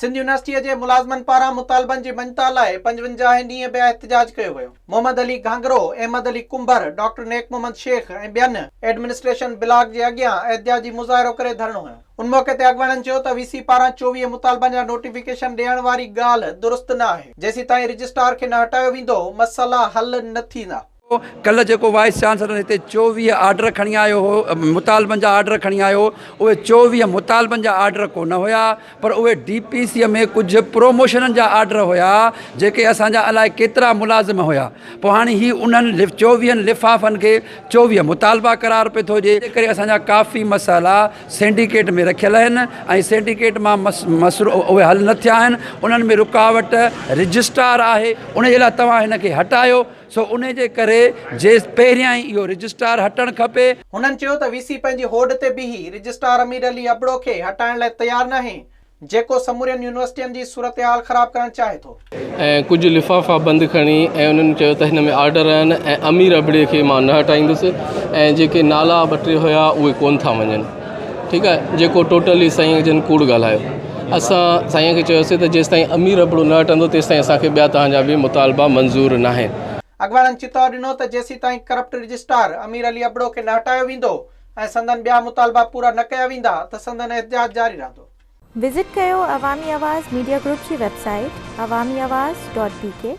سنڌ يونيورسٽيء جي ملازمن پاران مطالبن جي مڃتا لاء پنجونجاهه هين ڏينهن به احتجاج ڪيو ويو. محمد علي گهانگرو، احمد علي ڪنڀر، ڊاڪٽر نيڪ محمد شيخ ۽ ٻين ايڊمنسٽريشن بلاڪ جي اڳيان احتجاجي مظاهرو ڪري ڌرڻو هنيو. ان موقعي تي اڳواڻن چيو ته وي سي پاران چوويهه مطالبن جا نوٽيفڪيشن ڏيڻ واري ڳالهه درست نه آهي، جيسيتائين رجسٽرار کي نه هٽايو ويندو، مسئلا حل نه ٿيندا. ڪلهه جيڪو وائيس چانسلر هتي چوويهه آرڊر کڻي آيو هو مطالبن جا آرڊر کڻي آيو هو اهي چوويهه مطالبن جا آرڊر ڪونه هيا پر اهي ڊي پي سي ۾ ڪجهه پروموشنن جا آرڊر هيا جيڪي اسان جا الائي ڪيترا ملازم هيا پوء هاڻي هي انهن چوويهن لفافن کي چوويهه مطالبا قرار پئي ٿو ڏي انڪري اسان جا ڪافي مسئلا سينڊيڪيٽ ۾ رکيل آهن ۽ سينڊيڪيٽ مان مسئلا اهي حل نه ٿيا آهن انهن ۾ رڪاوٽ رجسٽرار آهي ان جي لاء توهان هن کي هٽايو سو انهي جي ڪري جي پهريان ئي اهو رجسٽرار هٽڻ کپي. هنن چيو ته وي سي پنهنجي هوڏ تي بيهي رجسٽرار امير علي ابڙو کي هٽائڻ لاء تيار ناهي جيڪو سمورين يونيورسٽين جي صورتحال خراب ڪرڻ چاهي ٿو. ۽ ڪجهه لفافا بند کڻي ۽ انهن چيو ته هن ۾ آرڊر آهن ۽ امير ابڙي کي مان نه هٽائيندس ۽ جيڪي نالا ٻه ٽي هيا اهي ڪون ٿا مڃن. ٺيڪ آهي جيڪو ٽوٽلي سائين جن ڪوڙ ڳالهايو اسان سائين کي چيوسي ته جيستائين امير ابڙو نه هٽندو تيستائين اسان کي ٻيا توهان جا به مطالبا منظور ناهن. اڳواڻن چتاء ڏنو ته جيسين تائين ڪرپٽ رجسٽار امير علي ابڙو کي نه هٽايو ويندو ۽ سندن ٻيا مطالبا پورا نه ڪيا ويندا ته سندن احتجاج جاري رهندو. وزٽ ڪيو عوامي آواز ميڊيا گروپ جي website Awami Awaz dot بي ڪي.